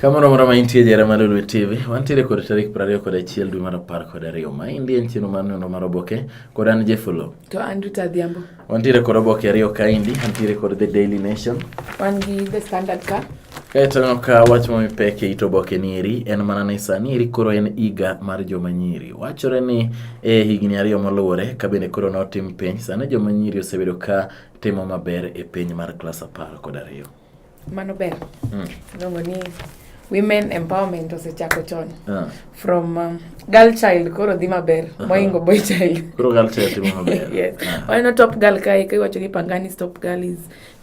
Kamoro moro ma intie jere mar Lulwe TV, wantiere kod tarik 20 kod achiel dwe mar apar kod ariyo. Ma endi en chenro mar neno mar oboke kod an Jefolo. To an Ruth Adhiambo. Wantiere kod oboke ariyo ka endi, antiere kod The Daily Nation. Wan gi The Standard ka. Kaeto aneno ka wach ma mipek e it oboke ni eri en mana ni sani eri koro en higa mar joma nyiri. Wachore ni e higni ariyo moluwore ka bende koro notim penj, sani joma nyiri osebedo ka timo maber e penj mar klas apar kod ariyo. Mano ber. Mm. Iluongo ni women empowerment osechako chon uh. from um, girl child koro dhi maber uh -huh. moingo boy child koro girl child timo maber yes uh. Ah. waneno top girl kae ka iwacho ni pangani top girl is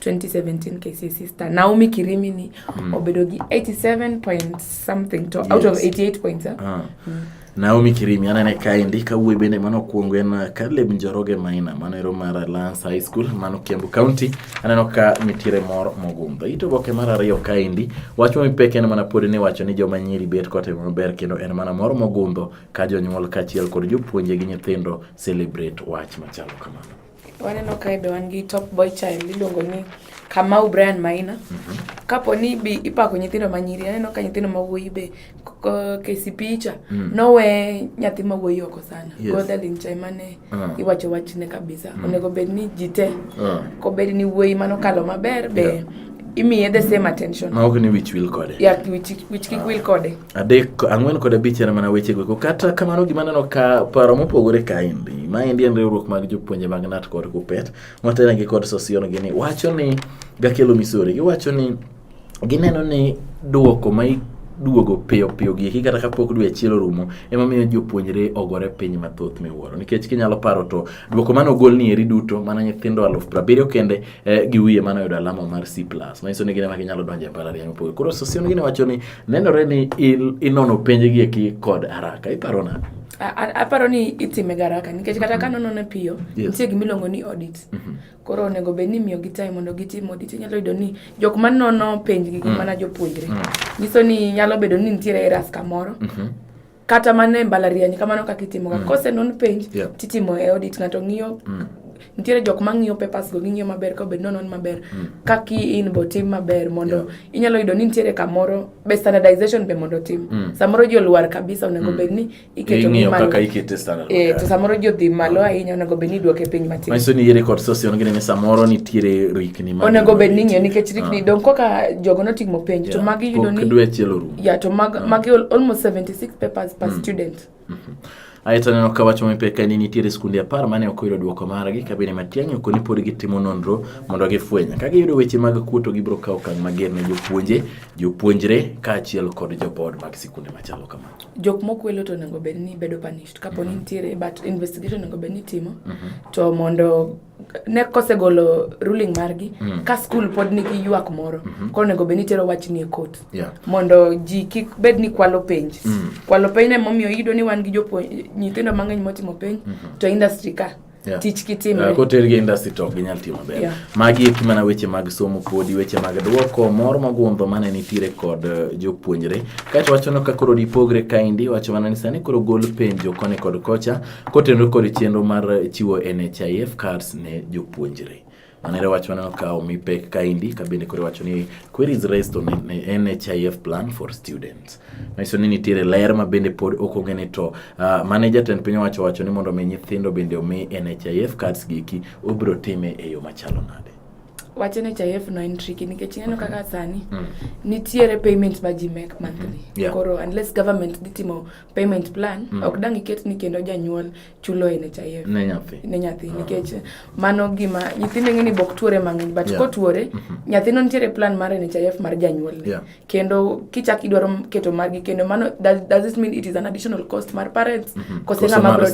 2017 KCSE sister Naomi Kirimi ni mm. obedo gi 87 point something to yes. out of 88 points eh? uh. mm. Naomi Kirimi anene kaendi kawuoyi bende mano okuongo en uh, Caleb Njoroge Maina mano ero mar Alliance High School mano Kiambu County aneno ka nitiere mor mogundho it oboke mar ariyo kaendi wach ma mipek en mana pod ni wacho ni joma nyiri bet kotimo maber kendo en mana mor mogundho ka jonyuol kaachiel kod jopuonje gi nyithindo celebrate wach machalo kamano Waneno kae be wan gi top boy child iluongo ni Kamau Brian Maina. Mm -hmm. Kapo ni bi ipako nyithindo ma nyiri, aneno ka nyithindo ma wuoyi be KCP cha mm. nowe nyathi ma wuoyi oko sana. Yes. Godalin cha mane uh. Ah. iwacho wachne kabisa. Mm. Onego bed ni ji te. Uh. Ah. Ko bed ni wuoyi mano kalo maber be yeah. imiye the same attention. Ma ok ni wich wil kode. Yeah, wich wich kik uh. wil kode. adek ang'wen kod abich en mana wechego eko kata kamano gima aneno ka paro mopogore kaendi maendi en riwruok mag jopuonje mag nat kod kupet motelnegi kod sosion gini wacho ni gakelo misori giwacho ni gineno ni duoko ma duogo piyo piyo gieki kata kapok dwe achiel orumo emomiyo jopuonjre ogore piny mathoth miwuoro nikech kinyalo paro to duoko mane ogol ni eri duto mana nyithindo aluf prabiriyo kende eh, gi wiye mano yudo alama mar C+. Manyiso ni gine ma ginyalo donjo e mbalariany mopogore. Koro Sosion gine wacho ni nenore ni inono penje gi eki kod haraka. Iparo na? aparo ni itime garaka nikech kata ka nonone piyo nitie gima iluongo ni audit mhm. koro onego bed ni imiyogi time mondo gitim audit inyalo yudo ni jok ma nono penjgi gin mm. mana jopuonjre mm. nyiso ni nyalo bedo ni nitiere eras kamoro mhm. kata mana e mbalariany kamano kaka itimoga mm. kosenon penj yeah. titimo e audit ng'ato ng'iyo mm. nitiere jok ma ng'iyo papers go ging'iyo maber ka obed nonon maber mm. kaka in bo tim maber mondo yeah. inyalo yudo ni nitiere kamoro be standardization be mondo tim mm. samoro ji olwar kabisa onego mm. bed ni iketo ni malo eh, to samoro ji odhi malo ahinya onego bed ni iduoke piny matin manyiso ni yere kod sosi onge ni samoro nitiere rikni onego bed ni ng'iyo nikech rikni ah. dong koka jogo notimo penj yeah. to magi yudo ni yeah to mag, uh, mag almost 76 papers per mm. student mm -hmm. Aye to aneno ka wacho mipek ka ni nitiere skunde apar mane ok oyudo dwoko margi ka bende matiang'i ok ni pod gitimo nonro mondo gifweny. Ka giyudo weche mag kuo to gibiro kawo okang' mager ne jopuonje, jopuonjre kaachiel kod joboard mag sikunde machalo kamano. Jok mokwelo to onego bed ni bedo punished kapo ni mhm. nitiere but investigation onego bed ni itimo mhm. to mondo ne kosegolo ruling margi mm. ka skul pod nigi ywak moro mm -hmm. koro onego bed ni tero wachni e kot yeah. mondo ji kik bed ni kwalo penj mm. kwalo penj ne momiyo iyudo ni wan gi nyithindo mang'eny motimo penj mm -hmm. to industry ka Yeah. tich kitimre uh, eh, kotergi industry to ok ginyal timo ber yeah. magi eki mana weche mag somo podi weche mag dwoko mor mogundho mane nitiere kod uh, jopuonjre kaeto wachono ka koro dipogre kaendi wacho mana ni sani koro gol penjo koni kod kocha Kotenore kod chenro mar chiwo NHIF cards ne jopuonjre. Manere wach maneno ka omi pek kaendi ka bende koro wacho ni queries raised on NHIF plan for students. Manyiso ni nitiere ler ma bende pod ok ong'e to uh, ah, mane jatend piny owacho wacho ni mondo mi nyithindo bende omi NHIF cards giki obiro time e yo machalo nade. Wach NHIF no en tricky nikech ineno kaka sani mm. nitiere payment ma ji make monthly. Mm. Yeah. Koro unless government dhi timo payment plan mm. ok dang iket ni kendo janyuol chulo e NHIF ne nyathi ne nyathi ah. nikech mano gima nyithindo ng'e ni bok tuore mang'eny but yeah. kotuore mm -hmm. nyathino nitiere plan mar NHIF mar janyuol yeah. kendo kichak idwaro keto margi kendo mano does, does this mean it is an additional cost mar parents mm -hmm. kose ng'ama bro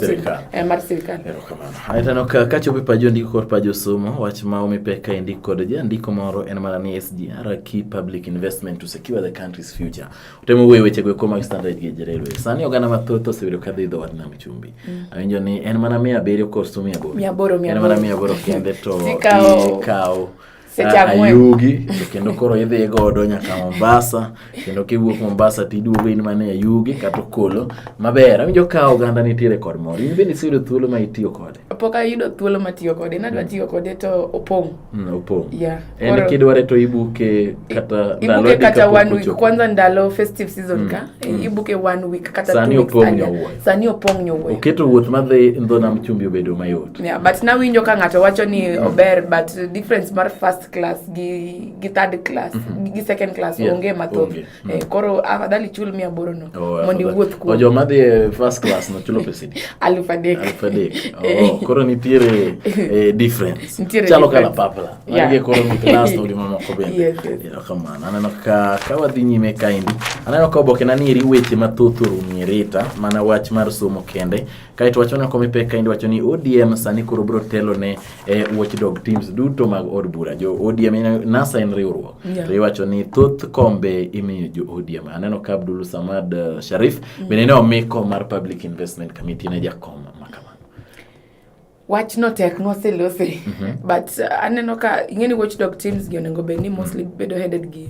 eh, mar sirkal erokamano aitano ka kachopo e pajo ndiko kod pajo somo wach ma omi pek ka indiko kod jandiko moro en mana ni SGR key public investment to secure the country's future Temo wuoyo weche go kuom standard gi jerelwe. Sani oganda mathoth osebedo ka dhi dho wath nam chumbi. Mm. Awinjo ni en mana mia abiriyo koso mia aboro. Mia aboro mia aboro. En mana mia aboro kende to ikawo Ayugi to kendo koro idhi godo nyaka Mombasa kendo kiwuok Mombasa to iduogo in mana Ayugi kata Okolo maber. Awinjo ka oganda nitiere kod mor. In bende iseyudo thuolo ma itiyo kode? Pok ayudo thuolo ma tiyo kode. Nadwa mm. tiyo kode to opong'. Mm, opo yeah. en eh, kidware to ibuke kata ibuke kata one week chopo. kwanza ndalo festive season mm. ka eh, mm. ibuke one week kata sani opong nyowuoyo sani opong nyowuoyo oketo wuoth madhi ndho nam chumbi obedo mayot yeah, but nawinjo ka ng'ato wacho ni mm. ober but difference mar first class gi, gi third class mm -hmm. gi second class yeah. onge mathoth okay. Mm. Eh, koro afadhali chul mia aboro no oh, mondo iwuoth kuom. Ojo madhi e first class no chulo pesa di. Aluf adek. Aluf adek. Eh. Oh, koro nitiere eh, difference. Nitiere Chalo kala papla. Yeah. Magi koro ni class to limo moko bende. Yes, yes. Yeah, come on. Aneno ka ka wadhi nyime kaendi. Aneno ka oboke na nieri weche mathoth orumi rita mana wach mar somo kende. Kae to wacho na komipeka indi wacho ni ODM sani koro bro telo ne e watchdog teams duto mag od bura jo ODM NASA en riwruok yeah. to iwacho ni thoth kombe imiyo jo ODM aneno ka Abdul Samad uh, Sharif mm. bende ne omiko mar Public Investment Committee ne jakom makama wach no tek moselose mm -hmm. but uh, aneno ka ing'eni watchdog teams gi onego bed ni mostly mm -hmm. bedo headed gi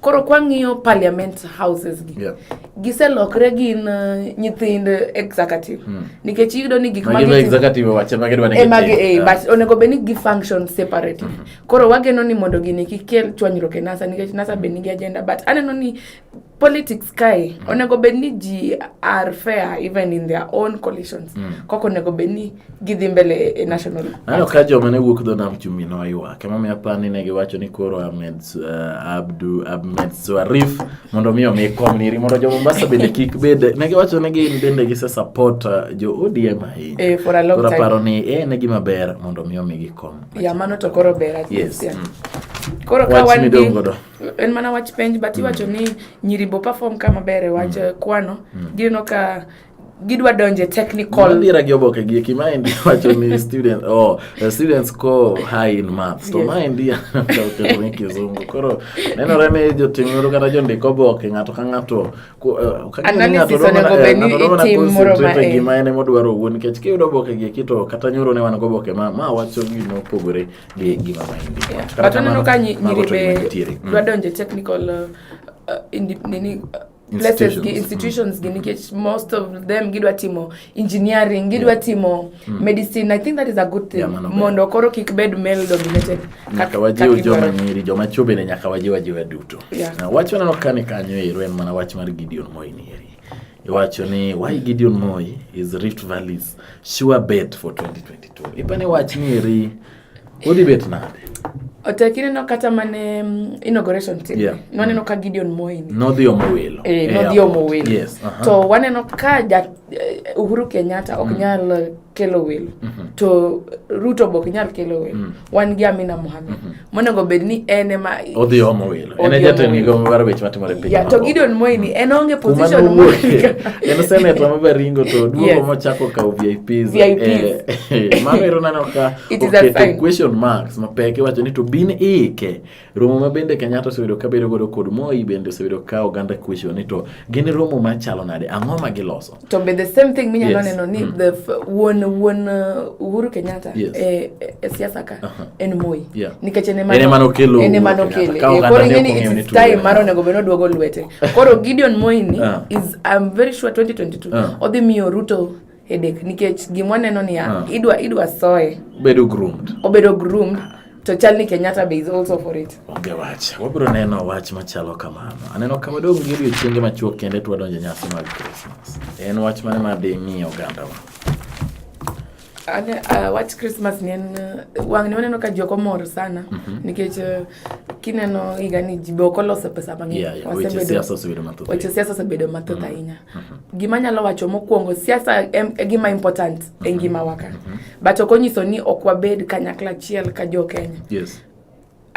Koro kwang'iyo parliament houses gi yeah. giselokre gin uh, nyithind executive mm. nikech iyudo ni gik magidwa executive wache magidwa ni emagi eh, yeah. but onego bed ni gi function separately mm -hmm. koro wageno ni mondo gini kikel chwanyruok e NASA nikech NASA be nigi agenda but aneno ni politics kae mm. onego bed ni ji are fair even in their own coalitions mm. koko onego bed ni gidhi mbele e national ano ka joma ne wuok dho nam chumbi no ywak emomiyo apar ni ne giwacho ni koro ahmed uh, abdu ahmed swarif mondo mi omi kom niri mondo jo mombasa bende kik bed ne giwacho ni gin bende gise support uh, jo odm ahinya eh, for a long koro time aparo ni e ne gima ber mondo mi omi gikom ya mano to koro ber at yes least, yeah. mm. koro ka wach wan gi midong godo en mana wach penj but iwacho ni nyiribo perform kama ber e wach eh, kwano gineno ka gidwa donje technical mira gi oboke gi ki mind wacho ni student oh the students score high in maths to yes. mind ya to ni kizungu koro nenore ni jotim nuru kata jondik oboke ng'ato ka ng'ato eh, analysis onego bed ni eh, itim moro ma en gima en modwaro wuon nikech kiyudo oboke gi kito kata nyoro ne wan go oboke ma ma wacho gima opogore gi gima mind yeah. kata neno ka nyiri be mm. dwa donje technical uh, uh, nini uh, places gi institutions mm. gi nikech most of them gidwa timo engineering gidwa yeah. timo mm. medicine i think that is a good thing yeah, mondo koro kik bed male dominated nyaka wajiw joma nyiri joma chwo bende nyaka wajiw ajiwa duto yeah. na wach waneno kani kanyo ero en mana wach mar Gideon Moi ni eri iwacho ni why Gideon Moi is Rift Valley's sure bet for 2022 ipani wach ni eri Odi bet nade? Otek ineno kata mane mm, inauguration team. Yeah. Nwaneno ka Gideon Moi ni. Nodhi omo welo. Eh, nodhi omo welo. Yes. Uh -huh. To waneno ka ja, eh, Uhuru Kenyatta ok mm. nyal eh, kelo welo. Mm -hmm. To Ruto bok nyal kelo welo. Mm. Wan gi Amina Mohamed. Mm -hmm. Monego bed ni en ema odhi omo welo. en e jatend migawo mar weche matimore piny yeah, to Gideon Moi ni en onge position moro en senator ma Baringo to duogo yes. mochako kawo VIPs VIPs eh, mano ero neno ka oketo question marks mapek iwacho ni to bin ike romo ma bende Kenyatta osebedo ka bedo godo kod Moi bende osebedo ka oganda question ni to gin romo machalo nade ang'o ma giloso to be the same thing minyalo yes. neno ni mm. the wuon wuon uh, Uhuru Kenyatta yes. e, e siasa ka uh -huh. en Moi yeah. nikech ene mano ene mano kelo ene mano kele e, koro ngeni it's time maro nego beno duogo lwete koro Gideon Moi ni uh. is I'm very sure 2022 uh. Ah. odhi miyo Ruto headache nikech gimwa neno ni uh. idwa idwa soe bedo groomed obedo groomed to chal ni Kenyatta be is also for it. Onge wach. Wabiro neno wach machalo kamano. Aneno kama dong gi odiochienge machuok kende to wadonjo nyasi mag Christmas. En wach mane ma dhi ng'iyo oganda wa? Ane, uh, wach Christmas ni en uh, wang' ni waneno ka ji ok omor sana mm -hmm. nikech uh, kineno higa ni ji be ok oloso pesa mang'eny. Yeah, yeah. Weche siasa osebedo mathoth. Weche siasa osebedo mathoth mm. ahinya. Mm-hmm. gima anyalo wacho mokwongo siasa em e gima important e mm-hmm. ngimawa ka mm-hmm. but ok onyiso ni ok wabed kanyakla achiel ka jo Kenya yes.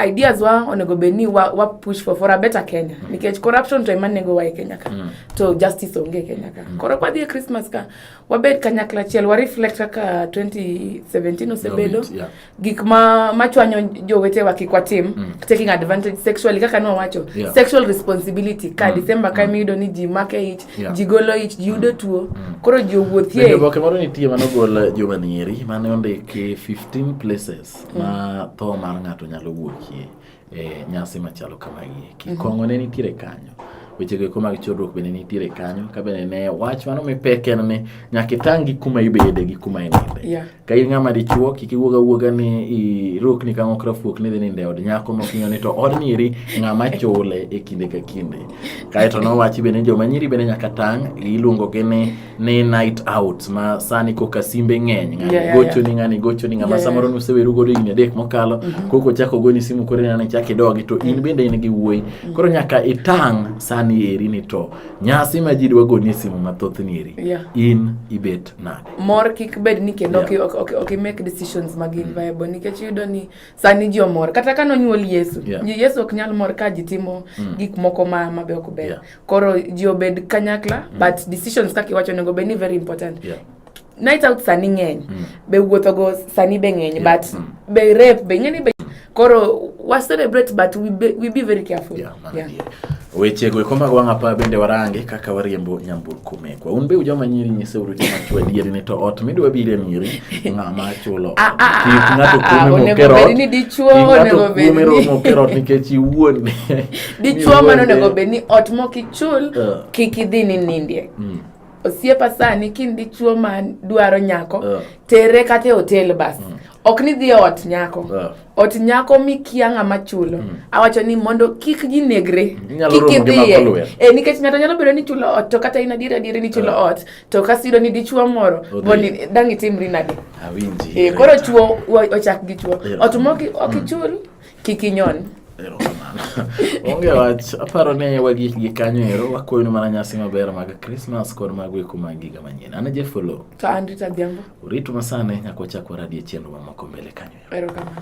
ideas wa onego bed ni wa, wa push for, for a better Kenya mm. nikech corruption to ema nego wa e Kenya ka mm. to justice onge e Kenya ka mm. koro kwa dhi e Christmas ka wabed kanyakla achiel wa reflect kaka 2017 osebedo yeah. gik ma machwanyo jowetewa kik watim mm. taking advantage sexually kaka nwawacho yeah. sexual responsibility ka mm. December ka mm. miyudo ni ji make ich yeah. ji golo ich ji yudo mm. tuo mm. koro ji owuothie oboke moro nitie mane ogol juma nyeri mane ondiki 15 places mm. ma tho mar ng'ato nyalo wuokie e nyasi machalo kamagi eki. Mm-hmm. Kong'o ne nitiere kanyo. Weche go eko mag chodruok bende nitiere kanyo. Ka bende ne wach mano mipek en ni nyaka itang' gi kuma ibede gi kuma ininde. Yeah. Ka in ng'ama dichuo kik iwuog awuoga ni irokni ka ng'okra fuok ni dhi ninde od nyako mok ing'eyo ni to odni eri ng'ama chule e kinde ka kinde. Kaeto nowachi bende joma nyiri bende nyaka tang' iluongogi ni ni night out ma sani koka simbe ng'eny ng'ani yeah, gocho yeah. ni ng'ani gocho ni ng'ama yeah, samoro yeah. nuseweru godo higni adek mokalo mm -hmm. koko chako goni simu koro inane chak idogi to in mm. bende in gi wuoyi mm. koro nyaka itang' sani eri ni to nyasi ma ji dwa gonie simu mathoth ni eri yeah. in ibet nade mor kik bed ni kendo yeah. ok, ok, ok make decisions mag mm. viable nikech yudo ni sani ji omor kata ka nonyuol yesu yeah. yesu ok nyal mor ka ji timo mm. gik moko ma, ma be ok ber yeah. koro ji obed kanyakla mm. but decisions kaka iwacho onego bed ni very important yeah. night out sani ng'eny mm. be wuothogo sani be ng'eny yeah. but mm. be rep be ing'eni be koro wa celebrate but we be, we be very careful yeah, yeah. yeah. wechego ikombago wang' apa bende warange kaka wariembo nyamburko mekwa un be ujoma nyiri nyiseuru joma chwe adieri ni to ot midwa bire miri ng'ama chulo ah, ah, ah, kik ng'ato kuome mokerot kik ng'ato kuome romo kerot nikech iwuon dichuo mane onego bed ni ot mok ichul uh. kik idhi ni nindie mm. osiepa sani kin dichuo ma dwaro nyako uh. tere kata e otel bas mm. ok ni dhi e ot nyako uh. ot nyako mikia ng'ama chulo mm. awacho ni mondo kik ji negre kik idhiye e, nikech ng'ato nyalo bedo ni chulo ot to kata in adier adier ni chulo uh. ot to kasi yudo ni dichuo moro boni dang' itimri nade e, koro chuo ochak gi chuo ot mok ok mm. ichul mm. Kik inyon. Erokamano. Onge wach, aparo ni wagik gi kanyo ero, wakoyonu mana nyasi maber mag Christmas kod mag weko mag higa manyien. An e Jeff Oloo. To an Rita Adhiambo. Uritu masane nyaka wachak waradie chenro mamoko mbele kanyo ero. Erokamano.